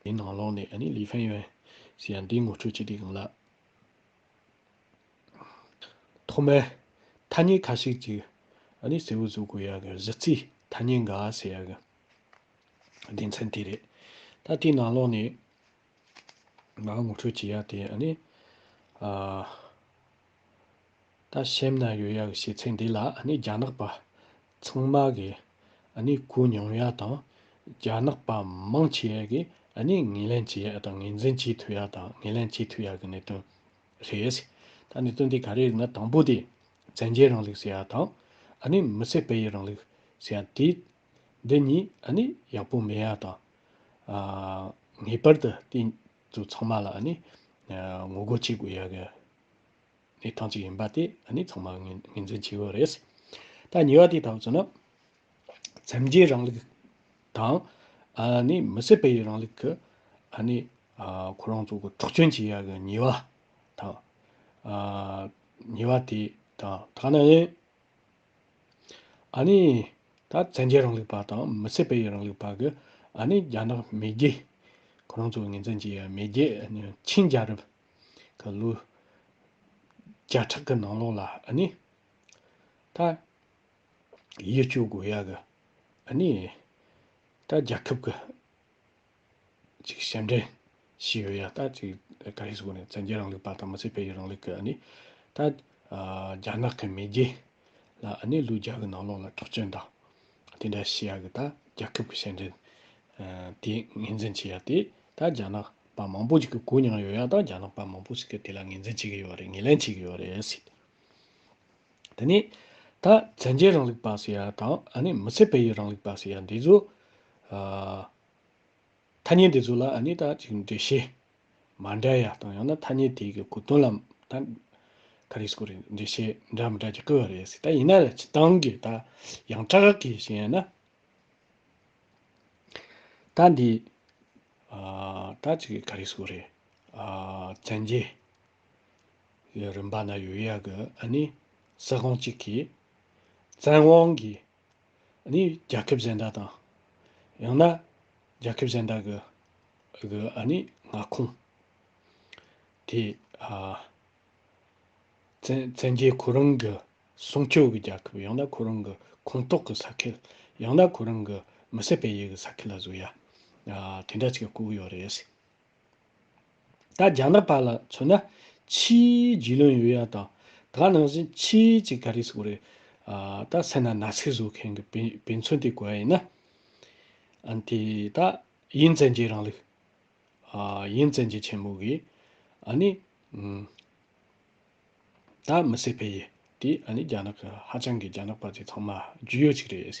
དེའི་ནང་ལོགས་ནས་ནི་ལི་ཧྥན་ཡོན་ཞེས་ཡང་འདིའི་ངོ་སྤྲོད་བྱེད་དེ་གང་ལགས། ཐོག་མར་ཐ་སྙད་ཁ་ཤས་ཀྱིས་གསལ་བོ་བཟོ་དགོས་ཡག་གི་གཞི་རྩའི་ཐ་སྙད་འགའ་ཞིག་ཡག་གི་དགེ་མཚན་དེ་རེད། ད་དེའི་ནང་ལོགས་ནས་ང་ངོ་སྤྲོད་བྱེད་ཡག་དེ་ནི་ད་གཤེམ་ན་ཡོད་ཡག་གི་བྱེད་ཚད་འདི་ལ་ནི་རྒྱ་ནག་པ་ཚང་མ་གིས་གནས་སྐུ་མྱོང་ཡ་དང་རྒྱ་ནག་པ་མང་ཆེ་བ་གིས་གནས་ངན་ལན་བྱེད་ཡ་དང་ངན་འཛིན་བྱེད་ཐུབ་ཡ་དང་ངན་ལན་བྱེད་ཐུབ་ཡ་གི་གནད་དོན་རེད། ད་གནད་དོན་དེ་ག་རེ་རེད་ན་དང་པོ་དེ་བཙན་རྒྱལ་རང་ལུགས་ཟེར་ཡ་དང་གནས་མི་སེར་སྤེལ་ཡུལ་རང་ལུགས་ཟེར་ཡ་དེ་འདི་གཉིས་གནས་ཡག་པོ་མེད་ཡ་དང། ངེས་པར་དུ་དེ་ཚོ་ཚང་མ་ལ་གནས་ངོ་རྒོལ་བྱེད་དགོས་ཡ་གི། ནི་ཐང་ཅིག་ཡིན་པ་དེ་ནི་ཚང་མ་ངོས་འཛིན་བྱེད་ཀྱི་ཡོད་རེད། ད་ཉེ་བ་དེ་ལྟ་བུ་བྱུང་ན། མཚམས་སྦྱོར་རང་ལུགས་དང། ནི་མི་སེར་སྤེལ་ཡུལ་རང་ལུགས་ཀྱི། ནི། ཁོ་རང་ཚོ་གི་འཁྲོག་བསྐྱོན་བྱེད་ཡག་གི་ཉེ་བ། དང། ཉེ་བ་དེ་དང་ཐ་ན་ཡིན། ནི། ད་མཚམས་སྦྱོར་རང་ལུགས་པ་དང་མི་སེར་སྤེལ་ཡུལ་རང་ལུགས་པ་གི། ནི་རྒྱ་ནག་མེས་རྒྱལ། ཁོ་རང་ཚོ་ངོས་འཛིན་བྱེད་ཡག་མེས་རྒྱལ། ཆིན་རྒྱལ་རབས། གི་ལུས། བརྒྱ་ཕྲག་གི་ནང་ལོགས་ལ་ནི། ད། ཡིད་སྤྱོད་དགོས་ཡ་གི་ནི། ད་རྒྱལ་ཁབ་ཀྱི། ཅིག་ཞབས་འདྲེན། ཞིག་ཡོད་ཡ་ད་ཅིག་ད་ཀ་ཧི་སི་ཀོ་ནི་བཙན་རྒྱལ་རང་ལུགས་པ་དང་མི་སེར་སྤེལ་ཡུལ་རང་ལུགས་ཀྱི་ནི། ད། རྒྱ་ནག་གི་མེས་རྒྱལ། ལ་ནི་ལུས་བརྒྱ་གི་ནང་ལོགས་ལ་དྲག་སྤྱོད་དང། དེ་འདྲ་བྱེད་ཡག་གི་ད་རྒྱ་ཁབ་ཀྱི་ཞལ་འདྲེན། དེ་ངེས་འཛིན་བྱེད་ཡག་དེ་ད་རྒྱ་ནག་པ་མང་པོ་ཞིག་གི་གོ་མྱངས་ཡོད་ཡག་ད་རྒྱ་ནག་པ་མང་པོ་ཞིག་གི་དེ་ལ་ངེས་འཛིན་བྱེད་ཀྱི་ཡོད་རེད་ངེས་ལེན་བྱེད་ཀྱི་ཡོད་རེད་ཟེར། དེ་ནས། ད་བཙན་རྒྱལ་རང་ལུགས་པ་ཟེར་ཡག་དང་ཨ་ནི་མི་ཚེ་བལ་ཡུལ་རང་ལུགས་པ་ཟེར་ཡག་འདི་ཚོ། ཨ། ཐ་སྙད་འདི་ཚོ་ལ་ཨ་ནི་ད་ཅིག་འགྲེལ་བྱེད་མ་འདྲ་ཡག་དང་ཡང་ན་ཐ་སྙད་དེ་གི་གོ་དོན་ལ་ད་ག་རེ་སྐོར་རེད་འདྲི་ཤེས་འདྲ་མི་འདྲ་གྱི་སྐུལ་བ་རེད་སྲིད་ད་ཡིན་ན་ལ་ཆི་ཏང་གི་ད་ཡང་ཏྲག་གི་བཞིན་ཡིན་ན་ད་འདི་ད་ཅི་གི་ག་རེ་སྐོར་རེད་བཙན་རྒྱལ་གི་རིམ་པ་ན་ཡོད་ཡག་གི་ཨ་ནི་ས་ཁོངས་གཅིག་གི་བཙན་དབང་གི་ནི། རྒྱལ་ཁབ་གཞན་དག་དང། ཡང་ན། རྒྱལ་ཁབ་གཞན་དག་གི། ནི། མངའ་ཁོངས། དེ། བཙན་རྒྱལ་ཁོ་རང་གི། སྲུང་སྐྱོབ་ཀྱི་རྒྱལ་ཁབ་ཡང་ན་ཁོ་རང་གི། ཁོངས་གཏོགས་ཀྱི་ས་ཁེལ། ཡང་ན་ཁོ་རང་གི། མི་སེར་སྤེལ་ཡུལ་གྱི་ས་ཁེལ་ལ་གཟུགས། དེ་འདྲ་ཅིག་བཀོད་ཡོད་རེད། ད་རྒྱ་ནག་བར་ལ་མཚོན་ན་ཕྱིའི་རྒྱུས་ལོན་ཡོད་ཡག་དང། དགའ་ནང་བཞིན་ཕྱིའི་གཅིག་ག་རེ་ཟུག་རེད། ད་སེ་ན་ན་ཚེ་བཟོ་མཁན་གི་བེ་བེ་མཚོན་དེ་གོ་ཡ་ཡིན་ན། ཨན་དེ་ད་དབྱིན་བཙན་རྒྱལ་རང་ལུགས། དབྱིན་བཙན་རྒྱལ་ཆེན་མོ་གིས་ཨ་ནི། ད་མི་སེ་བེ་ཡེ་དེ་ཨ་ནི་རྒྱ་ནག་གི་ཧ་ཅང་གི་རྒྱ་ནག་པ་དེ་ཚང་མ་རྒྱུས་ཡོད་ཅིག་རེད།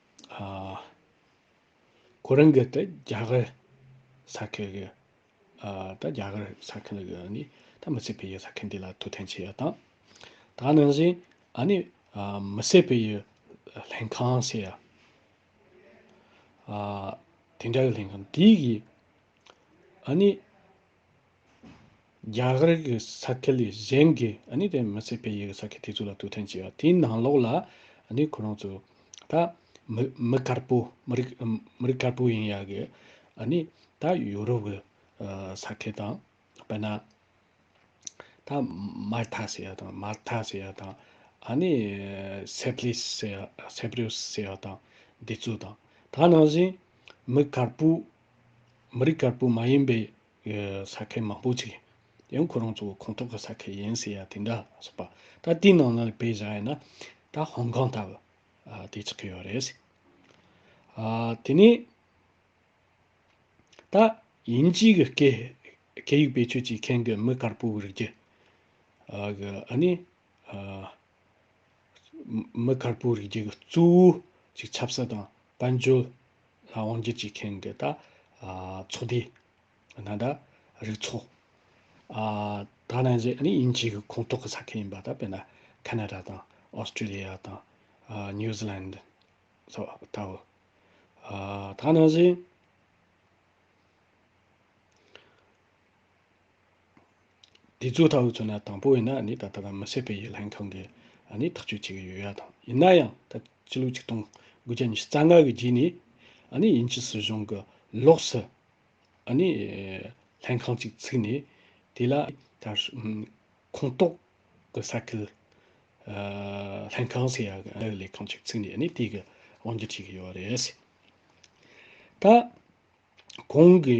ཁོ་རང་གི་དེ་རྒྱ་གར་ས་ཁུལ་གྱི་ད་རྒྱ་གར་ས་ཁུལ་ལ་ཡོད་ནི་ད་མི་ཚེ་བི་ཡི་ས་ཁུལ་འདི་ལ་ཐུགས་འཐེན་བྱས་ཡོད་དང། ད་ནང་བཞིན་ཨ་ནི་མི་ཚེ་བི་ཡི་ལྷན་ཁང་ཞེས་ཡ། དེ་འདྲ་གི་ལྷན་ཁང་དེ་གིས་ཨ་ནི། རྒྱ་གར་གྱི་ས་ཁུལ་ལས་གཞན་གྱི་ནི་དེ་མི་སྲིད་པའི་ཡུལ་གྱི་ས་ཁུལ་དེ་ཚོ་ལ་དུས་ཐེངས་བྱས་པ་དེའི་ནང་ལོགས་ལ་ནི་ཁོ་རང་ཚོ་ད་མི་དཀར་པོ་མི་རིགས་མི་རིགས་དཀར་པོ་ཡིན་ཡ་གི་ནི་ད་ཡུ་རོབ་གི་ས་ཁུལ་དང་དཔེར་ན་ད་མར་ཐ་ཟེར་ཡ་དང་མར་ཐ་ཟེར་ཡ་དང་ནི་སེ་བྷ་རིས་ཟེར་ཡ་སེ་བྷ་རིས་ཟེར་ཡ་དང་འདི་ཚོ་དང་ད་ནང་བཞིན་མི་དཀར་པོ་མི་རིགས་དཀར་པོ་མ་ཡིན་པའི་ས་ཁལ་མང་པོ་ཆེ། ཡང་ཁོ་རང་ཚོ་ཁོང་ཐོག་གི་ས་ཁལ་ཡིན་ཟེར་ཡ་དེ་འདྲ་སོགས་པ། ད་དེའི་ནང་ལ་བེད་བཞག་ཡ་ན། ད་ཧོང་ཀང་ལྟ་བུ་དེ་ཆགས་ཀྱི་ཡོད་རེད། དེ་ནས། ད་དབྱིན་ཇིའི་གི་སྐད་ཡིག་བེད་སྤྱོད་བྱེད་མཁན་གི་མི་དཀར་པོའི་རིགས། གི་ཨ་ནི། མི་དཀར་པོའི་རིགས་རྒྱུད་ཀྱི་གཙོ་བོ་ཞིག་ཆབ་སྲིད་དང་དཔལ་འབྱོར་ལ་དབང་བསྒྱུར་བྱེད་མཁན་གྱི་ད་ཚོགས་དེ་ད་ད་རིགས་ཚོགས་ད་ནང་བཞི་ནི་དབྱིན་ཇིའི་གི་ཁོངས་གཏོགས་ཀྱི་ས་ཁུལ་ཡིན་པ་ད་དཔེར་ན་ཁ་ན་ར་དང་ཨོས་ཏྲེ་ལི་ཡ་དང་ནིའུ་ཟི་ལན་དི་སོགས་ལྟ་བུ། ད་ནང་བཞི། དེ་ཚོ་ཐག་གཅོད་ན་དང་པོ་ཡིན་ན་ནི་ད་ལྟ་དང་མི་ཟད་པའི་ཡིད་ལྷན་ཁང་གིས་ནི་ཐག་གཅོད་བྱེད་ཀྱི་ཡོད་ཡ་དང་ཡིན་ན་ཡང་ད་སྤྱི་ལོ་ཆིག་སྟོང་དགུ་བརྒྱ་ཉི་ཤུ་རྩ་ལྔ་གི་རྗེས་ནས་ནི་དབྱིན་ཇི་སྲིད་གཞུང་གི་ལོགས་སུ་ནི་ལྷན་ཁང་ཅིག་ཚུགས་ནས་དེ་ལ་ཁོངས་གཏོགས་ཀྱི་ས་ཁུལ་ལྷན་ཁང་ཟེར་ཡ་གི་ལས་ཁང་ཅིག་ཚུགས་ནས་ནི་དེ་གི་དབང་སྒྱུར་བྱེད་ཀྱི་ཡོད་རེད། ད་གོང་གི་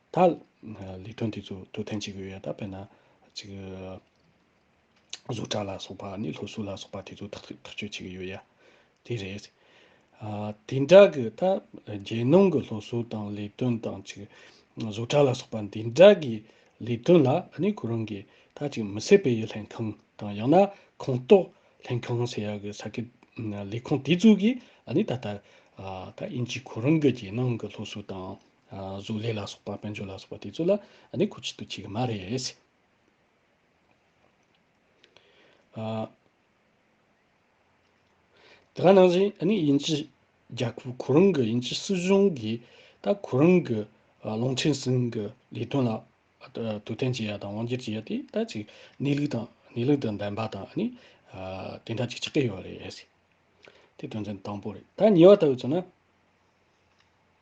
ད་ལས་དོན་དེ་ཚོ་དོ་དན་བྱེད་དགོས་ཡོད་ད་དཔེར་ན། གཅིག། བཟོ་གྲྭ་ལ་སོགས་པ་ནི་སློབ་གསོ་ལ་སོགས་པ་དེ་ཚོ་ཐག་གཅོད་བྱེད་ཀྱི་ཡོད་ཡ། དེ་རེད། དེ་འདྲ་གི་ད་རྒྱལ་ནང་གི་སློབ་གསོ་དང་ལས་དོན་དང་གཅིག། བཟོ་གྲྭ་ལ་སོགས་པ་འདི་འདྲ་གི་ལས་དོན་ལ་ནི་ཁོ་རང་གིས་ད་གཅིག་མི་སེར་སྤེལ་ཡུལ་ལྷན་ཁང་དང་ཡང་ན་ཁོངས་གཏོགས་ལྷན་ཁང་ཟེར་ཡག་གི་ས་གི་ལས་ཁུངས་དེ་ཚོ་གིས་ནི་ད་ལྟ། ད་དབྱིན་ཇིས་ཁོ་རང་གི་རྒྱལ་ནང་གི་སློབ་གསོ་དང། གཟུགས་ལས་ལ་སོགས་པ་དཔལ་འབྱོར་ལ་སོགས་པ་དེ་ཚོ་ལ་ནི་གོ་ཆེད་དུ་བྱེད་ཀྱི་མ་རེད། དེ་ག་ནང་བཞིན་དབྱིན་ཇི་རྒྱལ་ཁབ་ཁོ་རང་གི་དབྱིན་ཇི་སྲིད་གཞུང་གིས་ད་ཁོ་རང་གི་ལུང་ཁྲིན་སིན་གྱི་ལས་དོན་ལ་དུས་གཏན་འཇལ་ཡ་དང་དབང་སྒྱུར་བྱེད་ཡ་དེ་ད་ཅིག་གནས་ལུགས་དང་གནས་ལུགས་དང་ལྡན་པ་དང་དེ་འདྲ་ཅིག་ཆགས་ཀྱི་ཡོད་རེད། དེ་དོན་ཚན་དང་པོ་རེད། ད་ཉེ་བར་ལྟ་བུ་ཚོ་ན།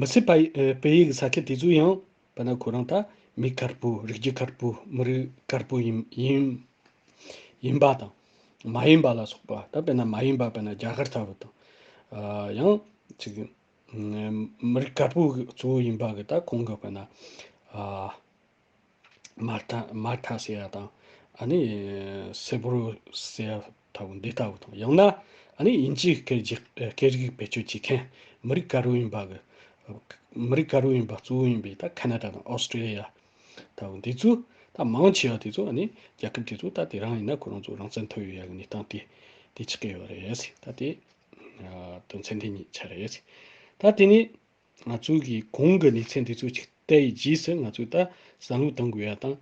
མི་སྲིད་པ་བོད་ཡིག་ས་ཁྱི་དེ་ཚོ་ཡང་བོད་ན་ཁོ་རང་ད་མི་དཀར་པོ་རིགས་རྒྱུད་དཀར་པོ་མི་རིགས་དཀར་པོ་ཡིན་ཡིན་ཡིན་པ་དང་མ་ཡིན་པ་ལ་སོགས་པ་ད་བོད་ན་མ་ཡིན་པ་བོད་ན་རྒྱ་གར་ལྟ་བུ་དང། ཡང་ཅིག་མི་རིགས་དཀར་པོ་གཙོ་བོ་ཡིན་པ་གི་ད་ཁོང་གི་བོད་ན། མར་ཐག་མར་ཐག་ཟེར་ཡ་དང་ཨ་ནི་སེར་པོ་རུ་ཟེར་ཡ་ལྟ་བུ་འདི་ལྟ་བུ་དང་ཡང་ན་ཨ་ནི་དབྱིན་ཇིའི་སྐད་རྗེ་སྐད་རིགས་བེད་སྤྱོད་བྱེད་མཁན་མི་རིགས་དཀར་བོ་ཡིན་པ་གི། མི་རིགས་དཀར་བོ་ཡིན་པ་གཙོ་བོ་ཡིན་པའི་ད་ཁ་ན་ད་དང་ཨོ་སི་ཀྲི་ལི་ཡ་ལྟ་བུ་འདི་ཚོས་ད་མང་ཆེ་བ་དེ་ཚོ་ཨ་ནི་རྒྱལ་ཁབ་དེ་ཚོ་ད་དེ་རང་ཡིན་ན་ཁོ་རང་ཚོ་རང་བཙན་ཐོབ་ཡོད་ཡ་གི་གནས་སྟངས་དེ་དེ་ཆགས་ཀྱི་ཡོད་རེད་ད་དེ། དོན་ཚན་དེ་གཉིས་ཆགས་རེད། ད་དེ་ནས། ང་ཚོས་གིས་གོང་གི་གནས་ཚད་འདི་ཚོ་ཞིག་བལྟས་ཡས་རྗེས་སུ་ང་ཚོས་ད་བསམ་བློ་གཏང་དགོས་ཡ་དང།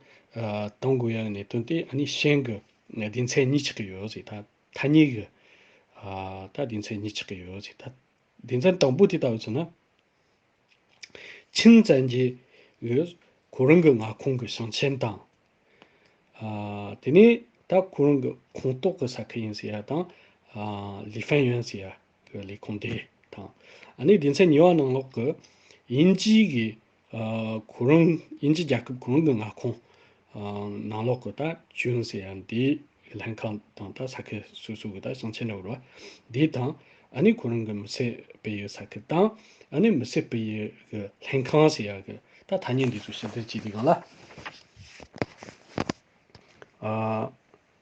གཏང་དགོས་ཡ་གི་གནད་དོན་དེ་ནི་ཤན་གི་སྡེ་ཚན་གཉིས་ཆགས་ཀྱི་ཡོད་ཟེ་ད། ཐ་སྙད་གི་ད་སྡེ་ཚན་གཉིས་ཆགས་ཀྱི་ཡོད་ཟེ་ད། སྡེ་ཚན་དང་པོ་དེ་ད་བས་ཚོ་ན། ཆིན་བཙན་རྗེ་ཡོད། ཁོ་རང་གི་མངའ་ཁོངས་ཀྱི་ཞིང་ཆེན་དང། དེ་ནས་ད་ཁོ་རང་གི་ཁོངས་གཏོགས་ཀྱི་ས་ཁུལ་ཡིན་ཟེ་ཡ་དང། ལི་ཧྥན་ཡོན་ཟེ་ཡ། པའི་ལས་ཁུངས་དེ་དང། ནས་སྡེ་ཚན་གཉིས་པ་ནང་ལོགས་ཀྱི་དབྱིན་ཇིའི་གི་གོ་རིམ་དབྱིན་ཇི་རྒྱལ་ཁབ་གོ་རིམ་གྱི་མངའ་ཁོངས་ནང་ལོགས་ཀྱི་ད་ཅུན་ཟེར་ཡང་དེའི་ལྷན་ཁང་དང་ད་ས་ཁུལ་སོ་སོའི་གི་ད་ཞིང་ཆེན་འབྲོག་རུ་བ་དེ་དང། ནས་གོ་རིམ་གྱི་མི་སེར་སྤེལ་ཡུལ་ས་ཁུལ་དང། ནས་མི་སེར་སྤེལ་ཡུལ་གྱི་ལྷན་ཁང་ཟེར་ཡང་གི་ད་ཐ་སྙད་འདི་ཚོ་ཞིབ་བསྡུར་བྱས་དེ་གང་ལ།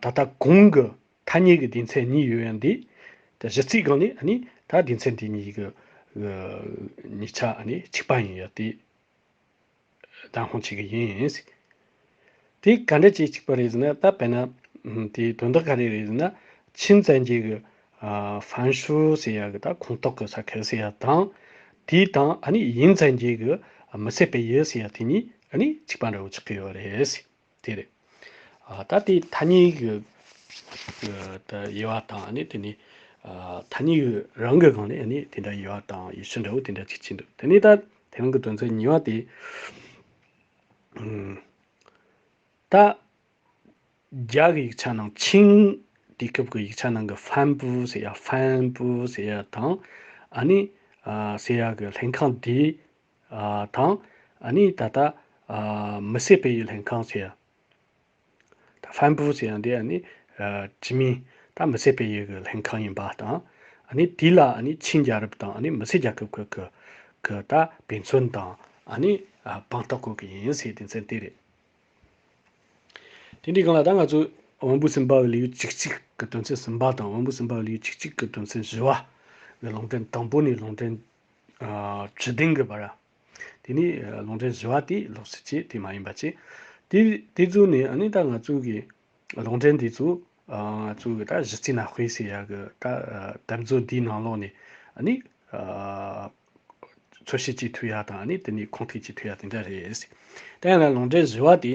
ད་ལྟ་གོང་གི་ཐ་སྙད་ཀྱི་སྡེ་ཚན་གཉིས་ཡོད་ཡང་འདི་གཞི་རྩའི་སྒང་ནས་ནི་ད་སྡེ་ཚན་དེ་གཉིས་ཀྱི་ཉིས་ཆ་གཅིག་པ་ཡིན་ཡོད་དེ། བདག་ཧོན་བྱེད་ཀྱི་ཡིན། དེ་ག་འདྲ་བྱེད་ཅིག་པ་རེད་ཟེར་ན་ད་བལ་ན་དེ་དོན་དག་ག་རེ་རེད་ཟེར་ན་ཆིན་བཙན་རྒྱལ་གྱི་ཧྥན་ཧྲུའུ་ཟེར་ཡ་གི་ད་ཁོངས་གཏོགས་ཀྱི་ས་ཁུལ་ཟེར་ཡ་དང། དེ་དང་ཡིན་བཙན་རྒྱལ་གྱི་མི་སེར་སྤེལ་ཡུལ་ཟེར་ཡ་དེ་གཉིས་གཅིག་པ་འདྲ་བོ་ཆགས་ཀྱི་ཡོད་རེད། དེ་རེད། ད་དེ་ཐ་སྙད་ཀྱི་དབྱེ་བ་དང་དེ་ནི་ཐ་སྙད་ཀྱི་རང་གི་སྒང་ནས་དེ་འདྲ་དབྱེ་བ་དང་ཡེ་ཤུ་འདྲ་བོ་དེ་འདྲ་ཅིག་བྱས་འདུག་དེ་ནས་ད་དེ་རང་གི་དོན་ཚན་གཉིས་པ་དེ། ད་རྒྱ་གི་ཡིག་ཆ་ནང་ཆིང་དུས་སྐབས་ཀྱི་ཡིག་ཆ་ནང་གི་ཧྥན་པུའུ་ཟེར་ཡ Fan Pu ཟེར་ཡ་དང་ཨ་ནི་ཟེར་ཡ་གི་ལྷན་ཁང་དེ། དང། ནི་ད་ལྟ། མི་བསད་པའི་ཡུལ་ལྷན་ཁང་ཟེར། ཧྥན་པུའུ་ཟེར་ཡང་དེ་ནི། ཅི་མིན། ད་མི་བསད་པའི་ཡུལ་གྱི་ལྷན་ཁང་ཡིན་པ་དང། ནི་དེ་ལ་ནི་ཆིན་རྒྱལ་རབས་དང་ནི་མི་སེར་རྒྱལ་ཁབ་ཁག་གི། གི་ད་བེ་མཚོན་དང། ནི་བང་རྟགས་བཀོད་ཀྱི་ཡིན་ཟེར་དེ་མཚན་དེ་རེད། དེ་འདྲའི་སྒང་ལ་ད་ང་ཚོས། དབང་པོ་སེམས་དཔའ་བའི་ལེའུ་གཅིག་གཅིག་གི་དོན་ཚན་གསུམ་པ་དང་དབང་པོ་སེམས་དཔའ་བའི་ལེའུ་གཅིག་གཅིག་གི་དོན་ཚན་བཞི་བ། ལུང་འདྲེན་དང་པོ་ནས་ལུང་འདྲེན་དྲི་དེང་གི་བར། དེ་ནས་ལུང་འདྲེན་བཞི་བ་དེ་ལོགས་སུ་བྱེད་དེ་མ་ཡིན་པར་བྱེད། དེ་དེ་ཚུལ་ནི་ནི་ད་ང་ཚོས་ཀྱི་ལུང་འདྲེན་དེ་ཚུལ་ཚུལ་གྱི་ད་གཞི་རྩའི་ན་དཔེ་ཟེར་ཡག་གི་ད་དམ་ཚུལ་འདིའི་ནང་ལོགས་ནས་ནི། འཚོལ་བཤེར་གྱི་མཐུ་ཡག་དང་ནི་དེ་ནས་ཁུངས་ཐེག་ཀྱི་མཐུ་ཡག་དེ་འདྲ་རེད། དེ་ཡང་ན་ལུང་འདྲེན་བཞི་བ་དེ།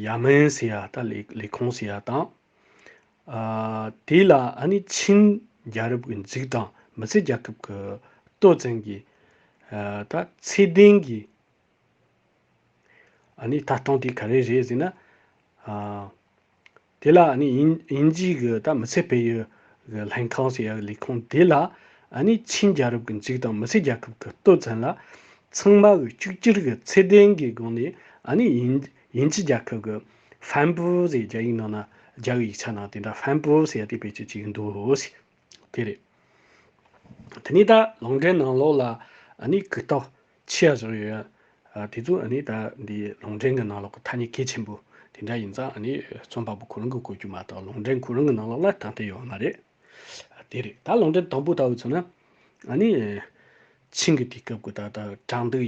ཡ་མན་ཟེར་ཡ་ད་ལས་ཁང་ཟེར་ཡ་དང། དེ་ལ་ཨ་ནི་ཆིན་རྒྱལ་རབས་ཀྱི་འཇིགས་དང་མི་ཚེ་རྒྱལ་ཁབ་ཀྱི་སྟོད་བཙན་གྱི་ད་ཚེ་ལྡན་གྱི་ཨ་ནི་ད་སྟོང་དེ་ག་རེ་རེད་ཟེར་ན། དེ་ལ་དབྱིན་ཇིའི་གི་ད་མི་ཚེ་བལ་ཡུལ་གི་ལྷན་ཁང་ཟེར་ཡག་ལས་ཁུངས་དེ་ལ་ཆིན་རྒྱལ་རབས་ཀྱི་འཇིག་དང་མི་ཚེ་རྒྱལ་ཁབ་ཀྱི་ལྟོས་ཚན་ལ་ཚང་མ་གི་གཅིག་གྱུར་གི་ཚད་ལྡན་གི་སྒང་ནས་དབྱིན་ཇི་རྒྱལ་ཁབ་གི་ཧྥན་པུའུ་ཟེར་རྒྱ་ཡིག་ནང་ན་རྒྱ་གི་ཡིག་ཆ་ནང་དེ་འདྲ་ཧྥན་པུའུ་ཟེར་དེ་བེད་སྤྱོད་བྱེད་ཀྱི་འདུག་དེ་རེད། དེ་ནས་ད་ལུང་འདྲེན་ནང་ལོགས་ལ་གུས་རྟོག་ཆེ་བཞག་ཡོད། དེ་ཚོ་ཨ་ནི་ད་འདི་ལུང་འདྲེན་གྱི་ནང་ལོག་གི་ཐ་སྙད་གལ་ཆེན་པོ་དེ་འདྲ་ཡིན་ཙང་ཨ་ནི་རྩོམ་པ་པོ་ཁོ་རང་གིས་བཀོད་རྒྱུ་མ་གཏོགས་ལུང་འདྲེན་ཁོ་རང་གི་ནང་ལོག་ལ་དང་དེ་ཡོད་མ་རེད། དེ་རེད་ད་ལུང་འདྲེན་དང་པོ་ལྟ་བུ་ཚོ་ན་ཨ་ནི་ཆིང་གི་དུས་སྐབས་ཀྱི་ད་ལྟ་དྲང་བདུག་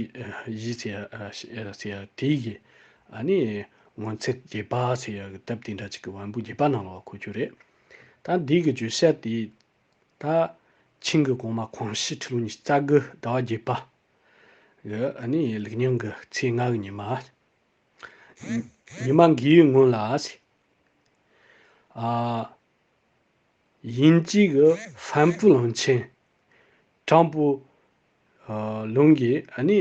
གཞི་ཟེར་ཡ་དེ་ཡི་ཨ་ནི་ངོ་མཚར་བརྒྱད་པ་ཟེར་ཡ་གི་དེབ་དེ་འདྲ་ཅིག་གི་དབང་པོ་བརྒྱད་པ་ནང་ལོག་ལ་འཁོད་རྒྱུ་རེད། ད་འདི་གི་བརྗོད་བྱ་དེ། ད་ཕྱིན་གྱི་གོང་མ་ཁོང་གཞི་ཁྲི་ལོ་ཉིས་རྩ་དགུ་ཟླ་བ་བརྒྱད་པ། གི་ནི་ལིག་ཉིང་གི་ཚེས་ལྔ་གི་ཉི་མ། ཉི་མ་འགའི་སྔོན་ལ། དབྱིན་ཇིའི་གི་ཧྥན་པུའུ་གླིང་ཆེན། ཀྲང་པུའུ། ལུང་གིས་ནི་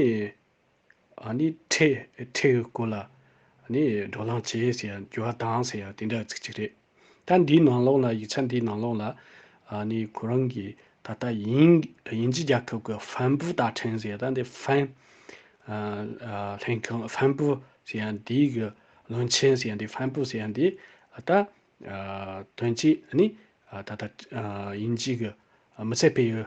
ཁྲེགས་དཀོན་ལ། འགྲོ་ལང་བྱེད་ཟེར་ཡང་རྒྱུ་བ་དྭངས་ཟེར་ཡང་དེ་འདྲ་ཚིག་གཅིག་རེད། ད་འདིའི་ནང་ལོགས་ལ་ཡིག་ཆ་འདིའི་ནང་ལོགས་ལ། ཁོ་རང་གིས་ད་ལྟ་དབྱིན་ཇི་རྒྱལ་ཁབ་ཀྱི་ཧྥན་པུའུ་རྟ་ཕྲེང་ཟེར་ད་འདི་ཧྥན། ལྷན་ཁང་ཧྥན་པུའུ་ཟེར་ཡང་འདིའི་གི་བློན་ཆེན་ཟེར་ཡང་འདི་ཧྥན་པུའུ་ཟེར་ཡང་འདི། ད་དོན་གཅིག་ནི་ད་ལྟ་དབྱིན་ཇིའི་གི་མི་ཚེ་སྤེལ་ཡུལ་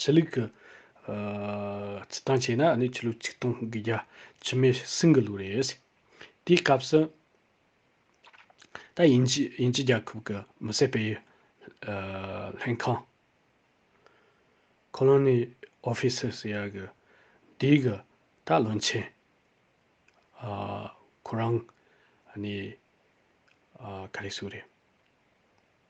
ཕྱི་ལུགས་ཀྱི་སྤྱི་དང་བྱས་ན་ནི་ཕྱི་ལུགས་ཆིག་སྟོང་གི་རྒྱ་ཕྱི་མའི་སྲིང་གི་ལུགས་རེད། དེའི་སྐབས་སུ། ད་དབྱིན་ཇི་རྒྱལ་ཁབ་ཀྱི་མི་བསད་པའི་ལྷན་ཁང། Colony Officers། ཡ་གི་དེའི་གི་ད་བློན་ཆེན། ཁོ་རང་ནི་ག་རེ་ཟུག་རེད།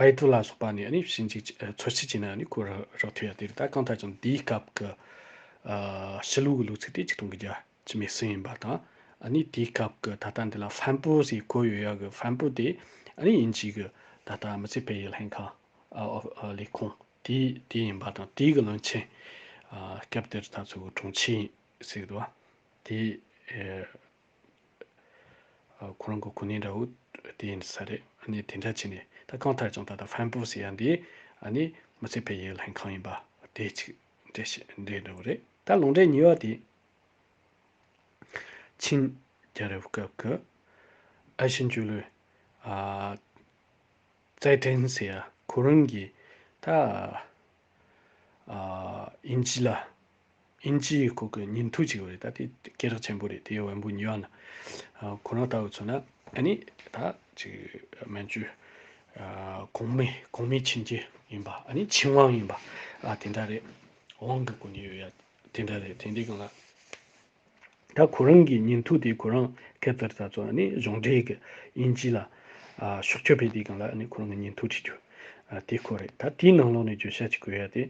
པའི་གྲུ་ལ་སོགས་པ་ནས་ནི་ཕྱིན་ཅིག་འཚོལ་བྱེད་ཅིག་ན་ནི་གོ་རག་ཐོས་ཡ་དེ་རིགས་ད་གང་ལྟར་ཀྱང་འདིའི་སྐབས་ཀྱི་ཕྱི་ལུགས་ཀྱི་ལུགས་ཚིག་དེ་གཅིག་དང་གི་རྒྱ་ཆེ་མའི་སྲིད་ཡིན་པ་དང། ནི་དེའི་སྐབས་ཀྱི་ད་ལྟ་འདི་ལ་ཧྥན་པོའུ་ཞེས་གོ་ཡོད་ཡ་གི་ཧྥན་པོའུ་དེ་ནི་ཡིན་གཅིག་གི་ད་ལྟ་མི་ཚེ་བེ་ཡི་ལྷན་ཁང། ལས་ཁུངས། དེ་དེ་ཡིན་པ་དང་དེའི་གི་བློན་ཆེན། སྐབས་དེར་ད་ཚོད་གི་དྲུང་ཆེ་ཡིན་ཟེར་གི་འདུག་བ། དེ། ཁོ་རང་གི་གོ་གནས་འདྲ་བོ་དེ་ཡིན་ས་རེད། གནས་དེ་འདྲ་བྱས་ནས་ད་གང་ཐར་ཀྱང་ད་ལྟ་ཧྥན་པོ་ཟེར་ཡ་འདི་ནི་མི་ཚེ་ཕལ་ཡས་ལྷན་ཁང་ཡིན་པ་དེ་གཅིག་འདྲེ་ཞིག་འདྲེ་འདྲ་བོ་རེད་ད་ལོ་འདྲེ་ཉིས་བ་དེ། ཆིན་རྒྱལ་རབས་སྐབས་ཀྱི་ཨ་ཤི་འཇུ་ལུའི། ཙའེ་ཀྲེན་ཟེར་ཡ་ཁོ་རང་གིས་ད། དབྱིན་ཇི་ལ་དབྱིན་ཇིའི་སྐོར་གྱི་ཉིན་ཐོ་ཅིག་རེད་ད་དེ་སྐད་རགས་ཆེན་པོ་རེད་དེ་བོན་པོ་ཉི་ཡང་ན་ཁོ་རང་ལྟ་བུ་ཚོ་ན་ཨ་ནི་ད་ཅིག་མན་ཇུ་གོང་མའི་གོང་མའི་ཆིན་རྒྱལ་ཡིན་པ་ཨ་ནི་ཆིན་ཝང་ཡིན་པ་ཨ་དེ་འདྲ་རེད་ཝང་གི་སྐོར་ནས་ཡོད་ཡ་དེ་འདྲ་རེད་དེ་འདྲའི་སྐོར་ན། ད་ཁོ་རང་གི་ཉིན་ཐོ་དེ་ཁོ་རང་ཁེབས་རྩར་ད་ཚོ་ནི་གཞུང་འབྲེལ་གི་དབྱིན་ཇི་ལ་ཤོག་ཆོས་ཕེབས་དེ་གང་ལ་ཁོ་རང་གི་ཉིན་ཐོ་བྲིས་རྒྱུ་དེ་ཁོ་རེད་ད་དེའི་ནང་ལོགས་ནས་བརྗོད་བྱ་ཅིག་གོ་ཡ་དེ།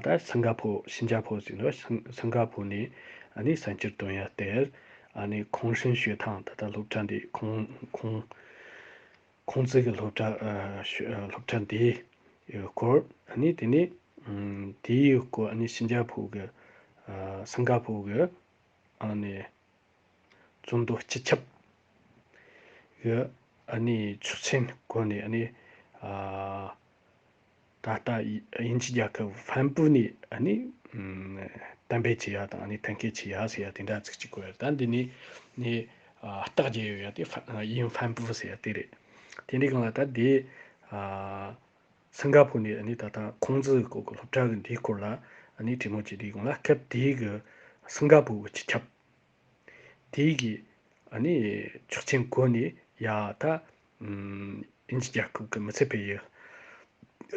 ད་སང་ག་ཕོ་ཤིན་ཇ་ཕོ་ཟིག་ལ་སང་ག་ཕོ་ནས་གསར་འགྱུར་བཏོན་ཡ་དེར་ཁོང་ཧྲེང་ཞོས་ཐང་ད་ལྟ་སློབ་གྲྭ་འདི་ཁོང་ཁོང། ཁོང་ཚོའི་གི་སློབ་གྲྭ། སློབ་གྲྭ་འདི། ཡི་སྐོར། ནི་དེ་ནི། དེ་ཡི་སྐོར་ནི་ཤིན་ཅཱ་ཕུའུ་གི། སིང་ག་ཕུའུ་གི། ནི། བཙུན་དུ་སྤྱི་ཁྱབ། གི། ནི་ཆུ་ཆེན་སྐོར་ནི། ད་ལྟ་དབྱིན་ཇི་རྒྱལ་ཁབ་ཧྥན་པུའུ་ནས་གཏན་འབེབས་བྱས་པ་དང་ཐོན་སྐྱེད་བྱས་པ་ཟེར་བ་དེ་འདྲ་ཚིག་གཅིག་གོ་ད་འདི་ནས་རྟགས་བརྒྱད་ཡོད་པ་དེ་དབྱིན་ཧྥན་པུའུ་ཟེར་བ་དེ་རེད། དེ་འདྲའི་སྒང་ལ་ད་དེ་སིང་ག་ཕོར་ནས་ད་ལྟ་ཁོང་ཚོའི་སྐོར་གྱི་སློབ་གྲྭ་གི་འདིའི་སྐོར་ལ་དྲི་མོ་བྱས་དེའི་སྒང་ལ་སྐབས་དེའི་གི་སིང་ག་ཕོར་གྱི་སྤྱི་ཁྱབ་དེའི་གི་ཆོག་མཆན་གོ་ནས་ཡ་ད་ཨིན་ཇི་རྒྱལ་ཁབ་ཀྱི་མི་ཚེ་འཕེལ་ཡུལ་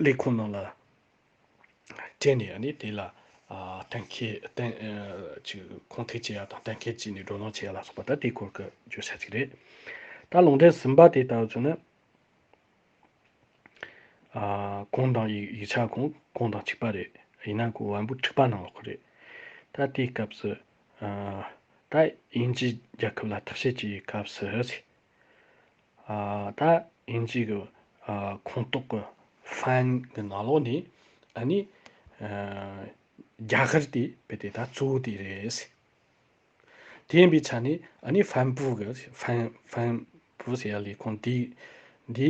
ལས་ཁུངས་ནང་ལ་སྤྲད་ནས་ནི་དེ་ལ་གཏན་འཁེལ་གཏན་གཅིག་གོང་ཐིག་བྱས་ཡག་དང་གཏན་འཁེལ་བྱས་ནས་སྒྲོ་ལོངས་བྱས་ཡག་ལ་སོགས་པ་ད་དེའི་སྐོར་གྱི་བརྗོད་བྱ་ཅིག་རེད། ད་ལུང་འདྲེན་ཟིན་པ་དེ་ལྟ་བུ་ཚོ་ནི། གོང་དང་ཡིག་ཆ་གོང་གོང་དང་གཅིག་པ་རེད། ཡིན་ན་གོ་བན་པོ་འཁྲིག་པ་ནང་ལོག་གི་རེད། ད་དེའི་སྐབས་སུ། ད་ཨིན་ཇི་རྒྱལ་ཁབ་ལ་ཐག་བཤད་ཀྱི་སྐབས་སུ། ད་ཨིན་ཇིའི་གི་ཁོངས་གཏོགས་ཀྱི་ཧྥན་གྱི་ནང་ལོགས་ནས་ཨཱ་ནི་རྒྱ་གར་དེ་བས་དེ་ད་གཙོ་བོ་དེ་རེད། དེ་ཡིན་པའི་ཆ་ནས་ཨཱ་ནི་ཧྥན་པུའུ་གི་ཧྥན་ཧྥན་པུའུ་ཟེར་ཡ་ལས་ཁོངས་དེ་འདི་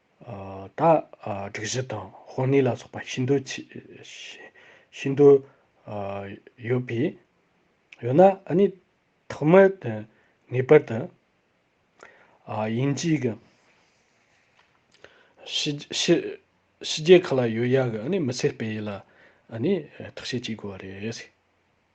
ད་དྲུག་བཞི་དང་དཔོན་གནས་ལ་སོགས་པ་ཤིན་ཏུ་ཤིན་ཏུ་ཡོད་པས་ཡོད་ན་ནི་ཐོག་མར་དུ་ངེས་པར་དུ་དབྱིན་ཇིའི་གི་ཕྱི་རྒྱལ་ཁག་ལ་ཡོད་ཡག་གི་མི་ཚེ་སྤེལ་ཡུལ་ལ་ནི་ཐག་གཅོད་བྱེད་དགོས་པ་རེད།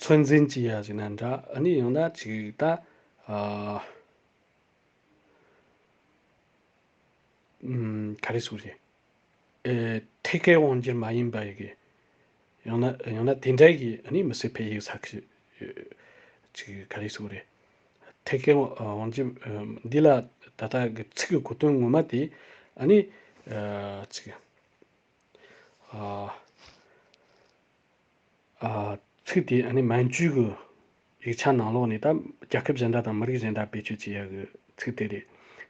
ཚོད་འཛིན་གྱིས་ཡ་ཞིག་ན་འདྲ་ཨ་ནི་ཡང་ན་ཅིག་ད་ག་རེ་ཟུག་རེད་ཨེ་ཐད་ཀའི་དབང་གྱིས་མ་ཡིན་པ་ཡི་གི་ཡང་ན་ཡང་ན་དེ་འདྲ་གི་ཨ་ནི་མི་སེར་ཕལ་ཡིག་ཚག་གི་ཅིག་ག་རེ་ཟུག་རེད་ཐད་ཀའི་དབང་གྱིས་འདི་ལ་ད་ལྟ་གི་ཚིག་གི་གོ་དོན་ངོ་མ་དེ་ཨ་ནི་ཅིག་ཨ། ཚིག་དེ་ཨ་ནི་མན་ཇུའི་གི་ཡིག་ཆ་ནང་ལོགས་ནས་ད་རྒྱལ་ཁབ་གཞན་འདྲ་དང་མི་རིགས་གཞན་འདྲ་བེད་སྤྱོད་བྱེད་ཡག་གི་ཚིག་དེ་རེད།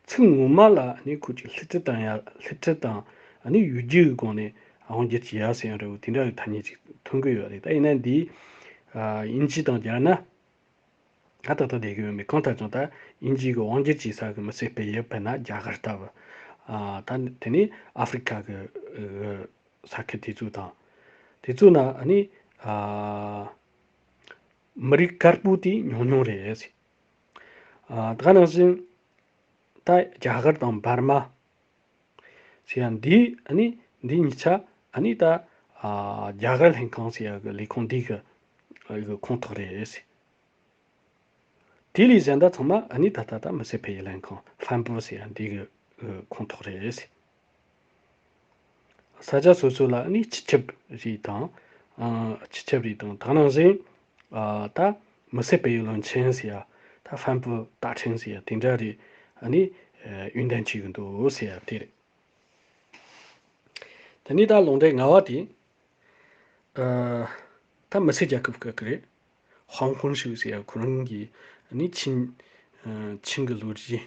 ཚིག་ངོ་མ་ལ་ཨ་ནི་ཁོ་ཅིག་ལྷི་ཁྲི་དང་ཡ་ལྷི་ཁྲི་དང་ཨ་ནི་ཡུལ་རྒྱུད་གི་སྒོ་ནས་ཨའོ་རྒྱལ་གྱི་ཡ་ཟེར་ཡང་རེད་བོ་དེ་འདྲ་གི་ཐ་སྙད་ཅིག་ཐོན་གི་ཡོད་རེད་ད་ཡིན་ན་འདིའི་དབྱིན་ཇི་དང་སྦྱར་ན་ད་ད་ལྟ་བསྡད་གི་ཡོད་མེད་གང་ལྟར་ཀྱང་ད་དབྱིན་ཇིའི་གི་ཝང་རྒྱལ་གྱི་ས་གི་མི་སེར་སྤེལ་ཡུལ་དཔེར་ན་རྒྱ་གར་ལྟ་བུ། ད་དེ་ནི་ཨ་ཧྥི་རི་ཁ་གི་ས་ཁུལ་དེ་ཚོ་དང། དེ་ཚོ་ན་ནི། མི་རིགས་དཀར་པོ་དེ་ཉུང་ཉུང་རེད། ད་ནང་བཞིན། ད་རྒྱ་གར་དང་འབར་མ། ཞེས་ཡང་འདི་ནི་འདི་གཉིས་ཆ་ནི་ད། རྒྱ་གར་ལྷན་ཁང་ཞེས་ཡ་གི་ལས་ཁུངས་འདི་གི་ཁོངས་གཏོགས་རེད། དེ་ལས་གཞན་ད་ཚང་མ་ནི་ད་ལྟ་ད་མི་སེར་སྤེལ་ཡུལ་ལྷན་ཁང་ལྷན་པོ་ཞེས་ཡང་འདི་གི་ཁོངས་གཏོགས་རེད། ས་ཆ་སོ་སོ་ལ་ནི་སྤྱི་ཁྱབ་རིས་དང། སྤྱི་ཁྱབ་རིས་དང་ཐང་ནང་བཞིན། ད་མི་བསད་པའི་བློན་ཆེན་ཟེར་ཡ། ད་བྷན་བུ་སྟག་ཕྲེང་ཟེར་ཡ་དེ་འདྲ་རེ་ནི། ཡོན་ཏན་གཅིག་འདུག་ཟེར་ཡ་དེ་རེད། དེ་ནས་ད་ལུང་འདྲེ་ང་བ་དེ། ད་མི་སེར་རྒྱལ་ཁབ་ག་གི་རེད། ཧོང་ཧོན་ཤུག་ཟེར་ཡ་ཁོ་རང་གི་ནི་ཆིན། ཆིན་གི་ལོ་རྒྱུས།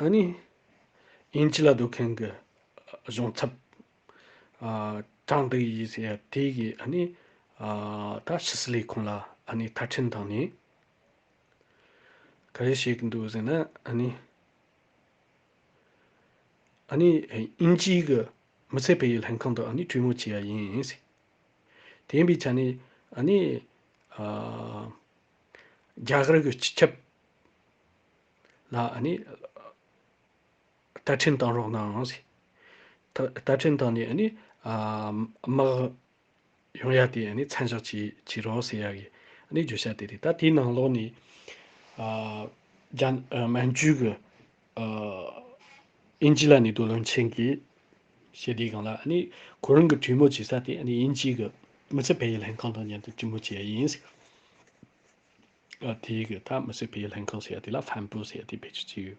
ཨཱ་ནི། ཡིན་གྱི་ལ་སྡོད་མཁན་གྱི་གཞུང་ཚབ། ཀྲང་ཏི་ཡིས་ཟེར་ཡ་དེ་གིས་ཨཱ་ནི། ད་ཕྱི་སི་ལའི་ཁོང་ལ་ཨཱ་ནི་ཐར་འཕྲིན་བཏང་ནས། ག་རེ་བྱེད་ཀྱི་འདུག་ཟེར་ན་ཨཱ་ནི། ཨཱ་ནི། དབྱིན་ཇིའི་གི་མི་ཚད་བེད་ཡི་ལྷན་ཁང་དུ་ཨཱ་ནི་གྲོས་མོལ་བྱས་ཡ་ཡིན། དེ་ཡིན་པའི་ཆ་ནས་ཨཱ་ནི། རྒྱ་གར་གྱི་སྤྱི་ཁྱབ། ལ་ཨ་ནི། བསྟར་འཕྲིན་བཏང་རོགས་གནང། བསྟར་འཕྲིན་བཏང་ནས་ཨ་ནི། དམག་ཡོང་ཡ་དེ་ཨ་ནི་མཚན་བཞག་བྱེད་རོགས་ཟེར་ཡ་གི་ཨ་ནི་བརྗོད་བྱ་དེ་རེད་ད་དེའི་ནང་ལོགས་ནས། མན་ཇུའི་གི་ཨིན་ཇི་ལ་ནི་རྡོ་ལོན་ཆེན་གི་ཞེས་དེའི་སྒང་ལ་ཨ་ནི་གོ་རིམ་གི་གྲོས་མོལ་བྱེད་ས་དེ་ཨ་ནི་ཨིན་ཇིའི་གི་མི་ཚེ་བལ་ཡུལ་ལྷན་ཁང་དང་མཉམ་དུ་གྲོས་མོལ་བྱེད་ཡ་ཡིན། དེའི་གི་ད་མི་སྲིད་པའི་ལྷན་ཁང་ཟེར་ཡ་དེ་ལ་ཕན་པོ་ཟེར་ཡ་དེ་ཕལ་ཆེར་ཅི་ཡོད།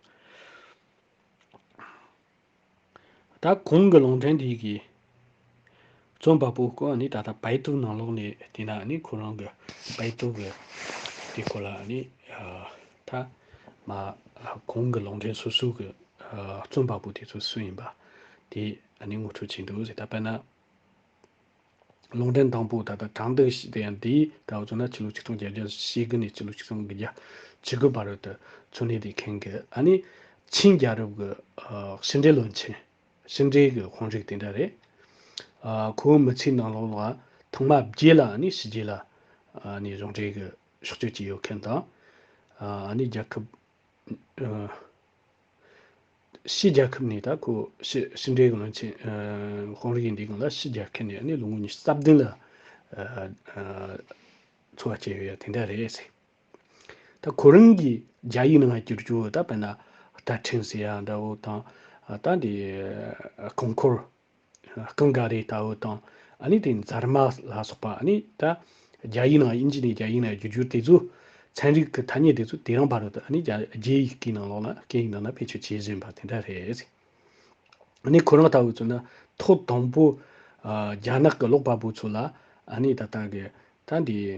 ད་གོང་གི་ལུང་འདྲེན་དེ་གི་རྩོམ་པ་པོ་སྐོར་ནི་ད་ལྟ་བེད་ཏུ་ནང་ལོག་ནས་དེ་ན་ནི་ཁོ་རང་གི་བེད་ཏུ་གི་དེ་སྐོར་ལ་ནི་ད་མ་གོང་གི་ལུང་འདྲེན་སོ་སོ་གི་རྩོམ་པ་པོ་དེ་ཚོ་སུ་ཡིན་པ་དེ་ནི་ངོ་སྤྲོད་བྱས་འདུག་ཟེར་ད་པེ་ན། ལུང་འདྲེན་དང་པོ་ད་ལྟ་དྲང་བདེན་ཞེས་བསྟན་ཡང་དེའི་ད་བར་ཚུན་ན་ཕྱི་ལོ་ཆིག་སྟོང་བརྒྱད་བརྒྱ་ཞེ་དགུ་ནས་ཕྱི་ལོ་ཆིག་སྟོང་དགུ་བརྒྱ་ཇི་དགུ་བར་དུ་ཚུན་གནས་དེ་ཁེངས་གི་ཨ་ནི། ཆིན་རྒྱལ་རབས་ཀྱི་ཕྱི་འབྲེལ་བློན་ཆེན། ཕྱི་འབྲེལ་གྱི་དཔོན་རིགས་དེ་འདྲ་རེད། ཁོ་བོའི་མི་ཚེའི་ནང་ལོགས་ལ་ཐོག་མ་བརྒྱད་ལ་ཨ་ནི་ཕྱི་རྒྱལ་ལ་ཨ་ནི་གཞུང་འབྲེལ་གྱི་ཕྱོགས་སྐྱོད་ཀྱི་ཡོད་མཁན་དང། ཨ་ནི་རྒྱལ་ཁབ། ཕྱིའི་རྒྱལ་ཁབ་ནས་ད་ཁོ་ཕྱི་ཕྱི་འབྲེལ་གང་ཆེ་ཧོང་རིགས་ཡིན་དུས་གང་ལ་ཕྱི་རྒྱལ་ཁ་ནས་ནི་ལོ་ངོ་ཉི་ཤུ་རྩ་བདུན་ལ་འཚོ་བ་སྐྱེལ་ཡོད་ཡ་དེ་འདྲ་རེད་ཟེར། ད་ཁོ་རང་གིས་རྒྱ་ཡིག་ནང་ང་བསྒྱུར་རྒྱུ་ད་བེ་ན་ད་ཕྲེང་ཟེར་ཡ་འདྲ་བོ་དང་ད་འདི་གོང་འཁོར་རྐང་འགའ་རེ་ལྟ་བུ་དང། ནི་དེ་འཛར་མ་ལ་སོགས་པ་ནི་ད། རྒྱ་ཡིག་ནང་དབྱིན་ཇི་ནས་རྒྱ་ཡིག་ནང་བརྒྱུད་འགྱུར་དེ་ཚོ། ཚན་རིག་གི་ཐ་སྙད་དེ་ཚོ་དེ་རང་བར་དུ་ནི་རྒྱ་རྒྱའི་ཡིག་གི་ནང་ལོགས་ན་སྐད་ཡིག་ནང་ན་བེད་སྤྱོད་བྱེད་བཞིན་པ་དེ་འདྲ་རེད། ནི་ཁོ་རང་ལྟ་བུ་ཚོ་ནི་ཐོག་དང་པོ། རྒྱ་ནག་གི་ཀློག་པ་པོ་ཚོ་ལ་ནི་ད་ལྟ་གི། ད་འདི།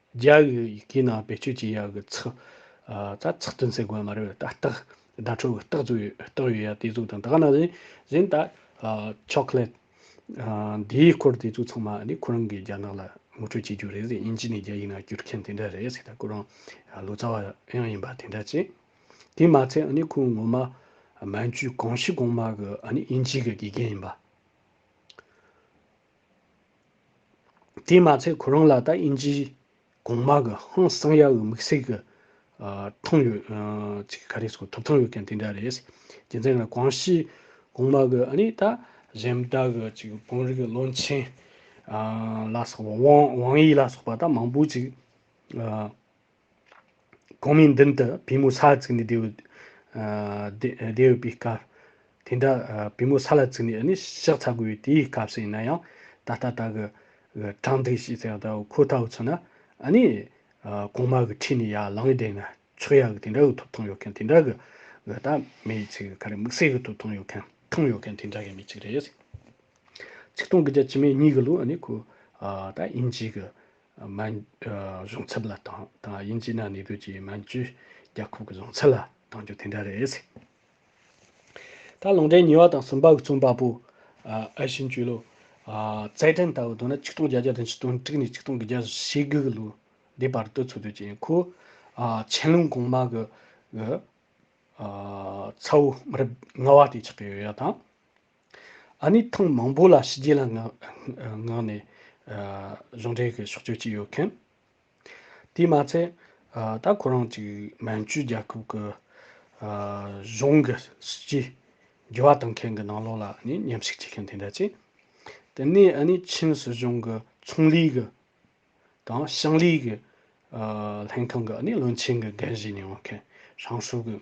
རྒྱ་བོད་ཡི་གེའི་ནང་བེད་སྤྱོད་བྱེད་ཡག་གི་ཚིག་རྩ་ཚིག་དོན་གསལ་དགོས་མ་རེད་ད་རྟགས་བརྡ་འཕྲོ་གི་རྟགས་ཟུག་ཡོད་རྟགས་ཡོད་ཡ་དེ་ཟུག་དང་ད་ག་ནང་བཞིན་བཞིན་ད chocolate འདིའི་སྐོར་དེ་ཚོ་ཚང་མ་ནི་ཁོ་རང་གི་རྒྱ་ནག་ལ་ངོ་སྤྲོད་བྱེད་རྒྱུ་རེད་ཟེར་དབྱིན་ཇི་ནས་རྒྱ་ཡིག་ནང་བསྒྱུར་མཁན་དེ་འདྲ་རེད་ཟེར་ད་ཁོ་རང་ལོ་ཙཱ་བ་ཡང་ཡིན་པ་དེ་འདྲ་ཅི། དེ་མ་ཚད་ནི་ཁོའི་ངོ་མ་མན་ཇུའི་གངས་ཤིག་གོང་མ་གི་དབྱིན་ཇིའི་གི་དགེ་རྒན་ཡིན་པ། དེས་མ་ཚད་ཁོ་རང་ལ་ད་ཨིན་ཇིའི་གོང་མ་གི་ཧང་བསང་ཡག་གི་དམིགས་བསལ་གི་ཐང་ཡོད། ཚིག་ག་རེ་སོགས་ཐོབ་ཐང་ཡོད་མཁན་དེ་འདྲ་རེད། རྒྱུ་མཚན་ང་ཀོང་ཞིའི་གོང་མ་གི་ཨ་ནི་ད་གཞན་དག་གི་ཅིག་དཔོན་རིགས་གི་བློན་ཆེན་ལ་སོགས་པ་ཝང་དབྱི་ལ་སོགས་པ་ད་མང་པོ་ཅིག། གོང་མའི་མདུན་དུ་བུས་མོ་ས་ལ་བཙུགས་ནས་བསྡད་ཡོད་པའི་སྐབས། དེ་འདྲ་བུས་མོ་ས་ལ་བཙུགས་ནས་ནི་ཕྱག་འཚལ་དགོས་པའི་དེའི་སྐབས་སུ་ཡིན་ན་ཡང། ད་ལྟ་ད་གི་གྲང་འདུག་ཞེས་ཟེར་བ་ཁོ་ལྟ་བུ་ཚོ་ན། ནི། གོང་མ་གི་ཁྲིས་ནི་ཡར་ལངས་ནས་བསྡད་ན་ཆོག་ཡག་གི་དེ་འདྲ་གི་ཐུབ་ཐང་ཡོད་མཁན་དེ་འདྲ་གི་གི་ད་མེད་ཅིག་གི་ག་རེ་དམིགས་བསལ་གི་ཐུབ་ཐང་ཡོད་མཁན་ཐང་ཡོད་མཁན་དེ་འདྲ་གི་མི་ཅིག་རེད། ཚིག་སྟོང་གི་རྒྱ་ཇི་མེད་གཉིས་གི་ལུགས་ནི་ཁོ་ད་ཡིན་གྱི་གི། མན་གཞུང་ཚབ་ལ་དང་དང་དབྱིན་ཇི་ནང་གནས་སྡོད་ཀྱི་མན་ཇུ་རྒྱལ་ཁབ་ཀྱི་གཞུང་ཚབ་ལ་དང་རྒྱུ་དེ་འདྲ་རེད། ད་ལུང་འདྲེན་ཉིས་བ་དང་གསུམ་པ་གི་རྩོམ་པ་པོ་ཨའི་ཤིན་ཅུས་ལོ་ཙཱའི་དྲན་ལྟ་བུ་བཏོན་ན་ཆིག་སྟོང་བརྒྱད་བརྒྱ་དང་ཆིག་སྟོང་དྲུག་ནས་ཆིག་སྟོང་གི་བརྒྱད་ཞེ་དགུ་གི་ལོ་ཟླའི་བར་དུ་འཚོ་སྡོད་ཀྱི་ཡིན་ཁོ། ཆན་ལུང་གོང་མ་གི་ཚའོ་མི་རབས་ལྔ་བ་དེ་ཆགས་ཀྱི་ཡོད་ཡ་དང། ཨ་ནི་ཐེངས་མང་པོ་ལ་ཕྱི་རྒྱལ་ལ་མངགས་ནས་གཞུང་འབྲེལ་གྱི་ཕྱོགས་སྐྱོད་ཀྱི་ཡོད་མཁན། དེས་མ་ཚད་ད་ཁོ་རང་ཅིག་མན་ཇུའི་རྒྱལ་ཁབ་ཀྱི་གཞུང་གི་སྲིད་ཇུས་འགྱུར་བ་གཏང་མཁན་གྱི་ནང་ལོགས་ལ་ནི་ཉམས་ཞིབ་བྱེད་མཁན་དེ་འདྲ་ཅིག། དེ་ནས་ཨ་ནི་ཆིན་སྲིད་གཞུང་གི་ཚོང་ལས་ཀྱི་དང་ཞིང་ལས་ཀྱི་ལྷན་ཁང་གི་ཨ་ནི་བློན་ཆེན་གྱི་འགན་བཞེས་མྱོང་མཁན། ཧྲང་ཧྲུའུ་གྱི།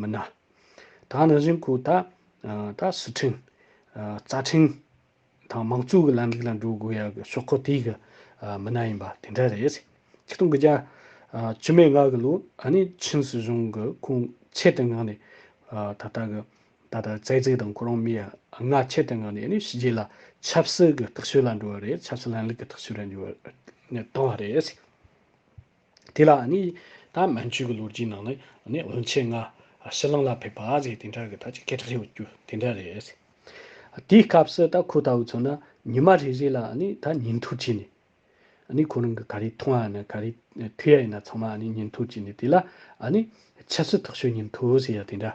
མི་ནག། དང་རང་བཞིན་ཁུལ་དག་དག་སི་ཁྲིན། རྩ་ཁྲིན། དང་མང་གཙོའི་ལམ་ལུགས་ལ་འགྲོ་དགོས་ཡ་གི་ཤོག་ཁོག་དེའི་གི་མི་ནག་ཡིན་པ་དེ་འདྲ་རེད། སྤྱི་སྟོང་གི་རྒྱ། བཅུ་མེད་ལྔ་གི་ལོ་ཨ་ནི་ཆིན་སི་གཞུང་གི་ཁུང་ཆེད་དུ་ངང་ནས། ད་ལྟ་གི་ད་ལྟ་རྩེ་རྩེ་དང་ཁོ་རང་མི་ཡ་ལྔ་ཆེད་དུ་ངང་ནས་ཨ་ནི་ཕྱི་རྒྱལ་ལ་ཆབ་སྲིད་གི་ཐག་གཅོད་ལ་འགྲོ་བ་རེད་ཆབ་སྲིད་ལམ་ལུགས་གི་ཐག་གཅོད་ལ་འགྱུར་བ་བཏང་བ་རེད། དེ་ལ་ནི་ད་མན་ཆོད་ཀྱི་ལོ་རྒྱུས་ནང་ནས་ནི་བོན་ཆེན་ལྔ་ཕྱི་གླིང་ལ་ཕེབས་པ་ཞེས་དེ་འདྲ་གི་ཐ་ཆད་སྐད་གྲགས་ཡོད་རྒྱུ་དེ་འདྲ་རེད། དེའི་སྐབས་སུ་ད་ཁོ་ལྟ་བུ་ཚོ་ནི་ཉི་མ་རེ་རེ་ལ་ནི་ད་ཉིན་ཐོ་བྱས་ནས་ནི་ཁོ་རང་གི་ག་རེ་མཐོང་ཡ་ན་ག་རེ་ཐོས་ཡ་ཡིན་ན་ཚང་མ་ནི་ཉིན་ཐོ་བྱས་ནས་དེ་ལ་ནི་ཆབ་སྲིད་ཐག་གཅོད་ཉིན་ཐོ་ཟེར་ཡ་དེ་འདྲ་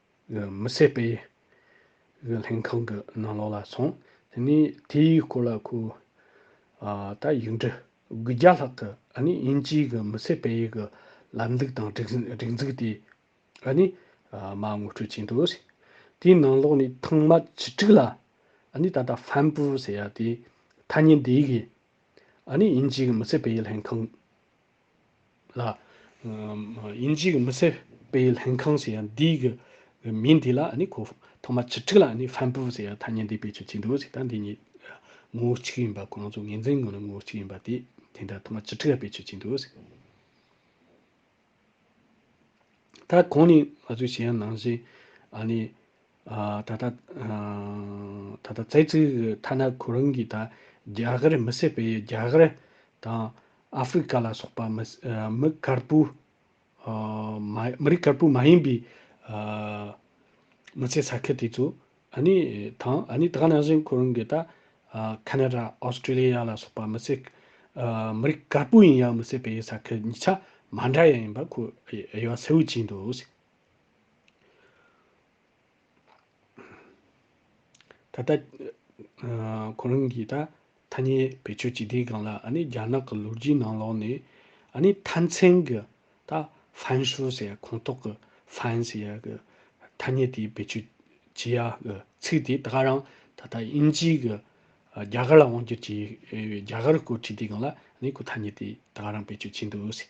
མི་བསད་པའི་ལྷན་ཁང་གི་ནང་ལོགས་ལ་སོང། དེ་ནས་དེའི་སྐོར་ལ་ཁོས། ད་ཡིག་འབྲི་དགུ་བརྒྱ་ལྷག་གི་དབྱིན་ཇིའི་གི་མི་བསད་པའི་གི་ལམ་ལུགས་དང་སྒྲིག་འཛུགས་དེ། མ་ངོ་སྤྲོད་བྱས་འདུག། དེའི་ནང་ལོགས་ནས་ཐེངས་མ་བཅུ་དྲུག་ལ། ད་ལྟ་ཧྥན་པུའུ་ཟེར་ཡ་དེའི་ཐ་སྙད་འདི་གིས། དབྱིན་ཇིའི་གི་མི་བསད་པའི་ལྷན་ཁང། ལ། དབྱིན་ཇིའི་མི་སེར་སྤེལ་ལྷན་ཁང་ཞེས་ཡང་འདིའི་གི་མིང་འདི་ལ་ནི་གོ། ཐོག་མར་བྱེ་ཕྲུག་ལ་ནི་ཧྥན་པུའུ་ཞེས་ཡང་ཐ་སྙད་འདི་སྤེལ་ཚུལ་གཅིག་འདུག་ཅིག་དང་འདི་གཉིས། ངོ་བོ་གཅིག་ཡིན་པ་གོང་རྫོགས་ངེས་འཛིན་ངོ་ནི་ངོ་བོ་གཅིག་ཡིན་པ་དེ་དེ་འདྲ་ཐོག་མར་བྱེ་ཕྲུག་ལ་སྤེལ་ཚུལ་གཅིག་འདུག་ཅིག། ད་གོང་ནས་ང་ཚོས་ཞེས་ཡང་ནང་བཞིན་ཨ་ནི། ད་ལྟ། ད་ལྟ་ཙེ་ཙི་གི་ཐ་ན་ཁོ་རང་གིས་ད་རྒྱ་གར་མི་བསད་པའི་རྒྱ་གར་དང་ཨ་ཧྥི་རི་ཀ་ལ་སོགས་པ་མི་དཀར་པོ། མི་རིགས་དཀར་པོ་མ་ཡིན་པའི། མི་ཚེ་ས་ཁུལ་དེ་ཚོ་ནི་དང་ཨ་ནི་ད་ནང་བཞིན་ཁོ་རང་གིས་ད། ཁ་ན་ར་ཨོ་སྟྲེ་ལི་ཡ་ལ་སོགས་པ་མི་ཚེ། མི་རིགས་དཀར་པོ་ཡིན་ཡང་མི་བསད་པའི་ས་ཁུལ་གཉིས་ཆ་མ་འདྲ་ཡང་ཡིན་པ་ཁོ་ཡ་གསལ་བོ་བྱས་འདུག། ད་ལྟ། ཁོ་རང་གིས་ད་ཐ་སྙད་བེད་སྤྱོད་བྱེད་དུས་གང་ལ་རྒྱ་ནག་གི་ལོ་རྒྱུས་ནང་ལོགས་ནས། མཐའ་མཚན་གྱི་ད་ཧྥན་ཧྲུའུ་ཟེར་ཡ་ཁོངས་གཏོགས་ཀྱི་ཧྥན་ཟེར་ཡ་གི་ཐ་སྙད་དེ་བེད་སྤྱོད་བྱེད་ཡ་གི་ཚིག་དེ་ད་ག་རང་ད་ལྟ་དབྱིན་ཇིའི་གི་རྒྱ་གར་ལ་དབང་བསྒྱུར་བྱས་རྒྱ་གར་སྐོར་བྲིས་དུས་གང་ལ་ཁོ་ཐ་སྙད་དེ་ད་ག་རང་བེད་སྤྱོད་བྱས་འདུག་ཟེར།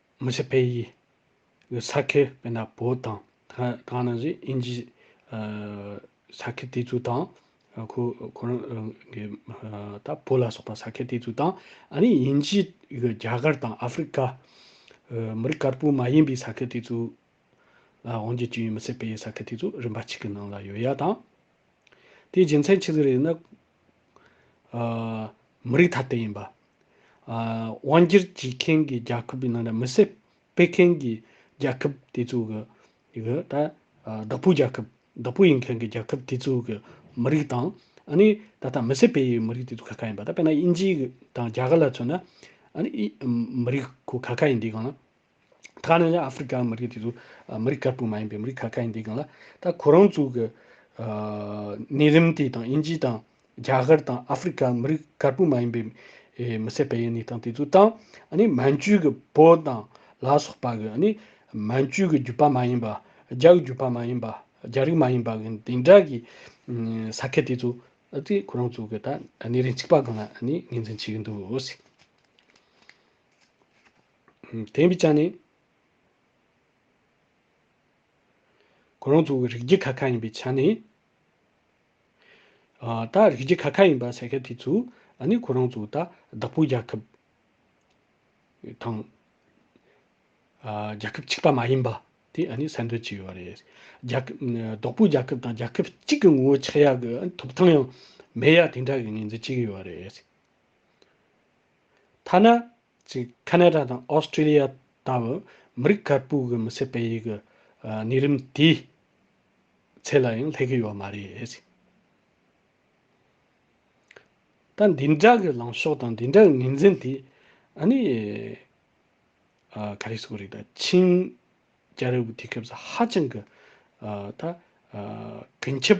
མི་ཆོས་པེ་ཡིས་གི་ས་ཁེ་པེ་ན་པོ་དང་གང་ནང་བཞིན་ཨིན་ཇིས་ས་ཁེ་དེ་ཚོ་དང་ཁོ་ཁོ་རང་གི་ད་པོ་ལ་སོགས་པ་ས་ཁེ་དེ་ཚོ་དང་ཨ་ནི་ཨིན་ཇིས་གི་རྒྱ་གར་དང་ཨ་ཧྥི་རི་ཀ་མི་རིགས་དཀར་པོ་མ་ཡིན་པའི་ས་ཁེ་དེ་ཚོ་ལ་དབང་བྱེད་ཀྱི་ཡོད་མི་ཆོས་པེ་ཡི་ས་ཁེ་དེ་ཚོ་རིམ་པ་གཅིག་གི་ནང་ལ་ཡོད་ཡ་དང། དེའི་རྒྱུ་མཚན་ཆི་ཟིག་རེད་ནི། མི་རིགས་ཐ་དད་ཡིན་པ། དབང་སྒྱུར་བྱེད་མཁན་གྱི་རྒྱལ་ཁབ་ཀྱི་ནང་ལ་མི་སེར་སྤེལ་མཁན་གྱི་རྒྱལ་ཁབ་དེ་ཚོ་གི་ད་བདག་པོ་རྒྱལ་ཁབ་བདག་པོ་ཡིན་མཁན་གྱི་རྒྱལ་ཁབ་དེ་ཚོ་གི་མི་རིགས་དང་ཨ་ནི་ད་ལྟ་མི་སེར་སྤེལ་ཡུལ་མི་རིགས་དེ་ཚོ་ཁ་ཁ་ཡིན་པ་ད་དཔེར་ན་དབྱིན་ཇི་དང་རྒྱ་གར་ལ་མཚོན་ན་ཨ་ནི་མི་རིགས་ཁོ་ཁ་ཁ་ཡིན་དེ་གང་ལ། ད་ནི་ཨ་ཧྥེ་རི་ཀའི་མི་རིགས་དེ་ཚོ་མི་རིགས་དཀར་པོ་མ་ཡིན་པའི་མི་རིགས་ཁ་ཁ་ཡིན་དེ་གང་ལ་ད་ཁོ་རང་ཚོ་གི་གནས་རིམ་དེ་དང་དབྱིན་ཇི་དང་རྒྱ་གར་དང་ཨ་ཧྥེ་རི་ཀའི་མི་རིགས་དཀར་པོ་མ་ཡིན་པའི་མི་སེར་སྤེལ་ཡས་གནས་སྟངས་དེ་ཚོ་དང་ཨ་ནི་མན་ཇུ་གི་བོད་དང་ལ་སོགས་པ་གི་ཨ་ནི་མན་ཇུ་གི་རྒྱུད་པ་མ་ཡིན་པ་རྒྱ་གི་རྒྱུད་པ་མ་ཡིན་པ་རྒྱ་རིགས་མ་ཡིན་པ་གི་དེ་འདྲ་གི་ས་ཁད་དེ་ཚོ་དེ་ཁོ་རང་ཚོ་གི་ད་གནས་རིམ་གཅིག་པ་གང་ལ་ངོས་འཛིན་བྱེད་ཀྱི་འདུག། དེ་ཡིན་པའི་ཆ་ནས། ཁོ་རང་ཚོ་རིགས་རྒྱུད་ཁ་ཁ་ཡིན་པའི་ཆ་ནས། ད་རིགས་རྒྱུད་ཁ་ཁ་ཡིན་པ་ཟེར་མཁན་དེ་ཚོས་ཨ་ནི་ཁོ་རང་ཚོ་ད་བདག་པོའི་རྒྱལ་ཁབ་དང། རྒྱལ་ཁབ་གཅིག་པ་མ་ཡིན་པ་དེ་ཨ་ནི་གསལ་འདོན་བྱས་ཡོད་པ་རེད། བདག་པོའི་རྒྱལ་ཁབ་དང་རྒྱལ་ཁབ་གཅིག་གི་ངོ་བོ་ཆགས་ཡག་གི་ཐོབ་ཐང་ཡང་མེད་ཡག་དེ་འདྲ་གི་ངོས་འཛིན་བྱས་ཡོད་པ་རེད། ཐ་ན། གཅིག་ཁ་ནད་ར་དང་ཨོ་སི་ཀྲི་ལི་ཡ་ལྟ་བུ་མི་རིགས་དཀར་པོའི་གི་མི་སེར་སྤེལ་ཡིག་གི་གནས་རིམ་དེའི་ཚད་ལ་ཡང་སླེབས་གི་ཡོད་མ་རེད། ད་འདི་འདྲ་གི་ལངས་ཕྱོགས་དང་འདི་འདྲ་གི་ངོས་འཛིན་དེ་ཨ་ནི་ག་རེ་ཟེར་བ་རེད་ད་ཆིང་རྒྱལ་རབས་ཀྱི་དུས་སྐབས་སུ་ཧ་ཅང་གི་ད་གུན་ཁྱབ་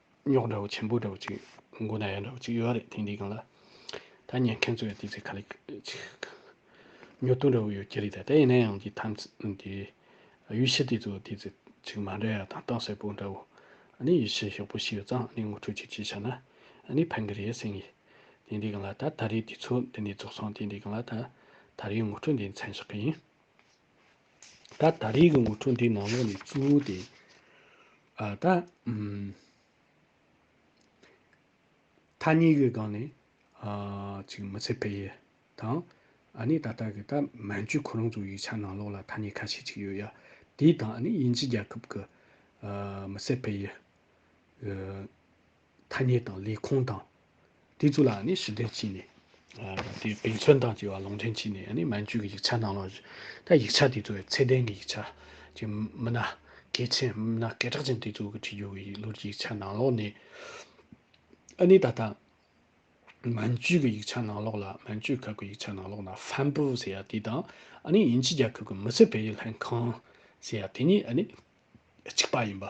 རྙོག་འདྲ་བོ་ཆེན་པོ་འདྲ་བོ་ཅིག་མགོ་ན་ཡ་འདྲ་བོ་ཅིག་ཡོད་རེད་དེང་དུས་གང་ལ་ད་ཉན་མཁན་ཚོས་དེ་ཚོའི་ཁ་ལས་ཉོ་ཐུབ་འདྲ་བོ་ཡོད་ཀྱི་རེད་ད་དེ་ཡིན་ན་ཡང་གི་ཐམས་ཅད་དེ་གཡུལ་ཕྱི་དེ་ཚོ་དེ་ཚོ་ཅིག་མ་འདྲ་ཡ་ཐང་སྟངས་གསལ་པོ་འདྲ་བོ་ནི་གཡུལ་ཕྱི་ཞོགས་པོ་ཞིག་ཡོད་ཙང་ནི་ངོ་འཕྲོད་ཅིག་བྱས་ཤག་ན་ནི་ཕན་གི་རེད་སེམས་གི་དེང་དུས་གང་ལ་ད་ད་རེས་དེ་ཚོ་འདི་ནས་རྫོགས་སོང་དེང་དུས་གང་ལ་ད་ད་རེས་ངོ་འཕྲོད་འདི་མཚན་ཞག་གི་ཡིན། ད་ད་རེས་ཀྱི་ངོ་སྤྲོད་འདིའི་ནང་ལོགས་ནས་གཙོ་བོ་དེ། ཨ་ད། ཐ་སྙད་ཀྱི་སྒང་ནས། ཨ་ཅིག་མི་ཚེ་འཕེལ་ཡས་དང། ཨ་ནི་ད་ལྟ་གི་ད་མན་ཇུའི་ཁོ་རང་ཚོའི་ཡིག་ཆ་ནང་ལོགས་ལ་ཐ་སྙད་ཁ་ཤས་ཅིག་ཡོད་ཡ། དེའི་དང་ཨ་ནི་དབྱིན་ཇི་རྒྱལ་ཁབ་ཀྱི། ཨ་མི་ཚེ་འཕེལ་ཡས། ཐ་སྙད་དང་ལས་ཁུངས་དང། དེ་ཚོ་ལའང་ནི་ཞི་བདེར་ཕྱིན་ནས། དེ་བེད་མཚོན་དང་བཅས་པ་ལུང་འདྲེན་བྱས་ནས་མན་ཇུས་ཀྱི་ཡིག་ཆ་ནང་ལོགས། ད་ཡིག་ཆ་དེ་ཚོ་ཚད་ལྡན་གྱི་ཡིག་ཆ། ཅིང་མི་སྣ་གལ་ཆེན་མི་སྣ་སྐད་གྲགས་ཅན་དེ་ཚོ་གི་ཁྲིད་རྒྱུ་གི་ལུར་གྱི་ཡིག་ཆ་ནང་ལོགས་ནས། ཨ་ནི་ད་ལྟ། མན་ཇུས་ཀྱི་ཡིག་ཆ་ནང་ལོགས་ལ་མན་ཇུས་ཁབ་ཀྱི་ཡིག་ཆ་ནང་ལོགས་ན་ཧྥན་པུ་ཟེར་ཡ་དེ་དང། ཨ་ནི་དབྱིན་ཇི་རྒྱལ་ཁབ་ཀྱི་མི་སེར་བེད་སྤྱོད་ལྷན་ཁང། ཟེར་ཡ་དེ་གཉིས་ཨ་ནི་གཅིག་པ་ཡིན་པ།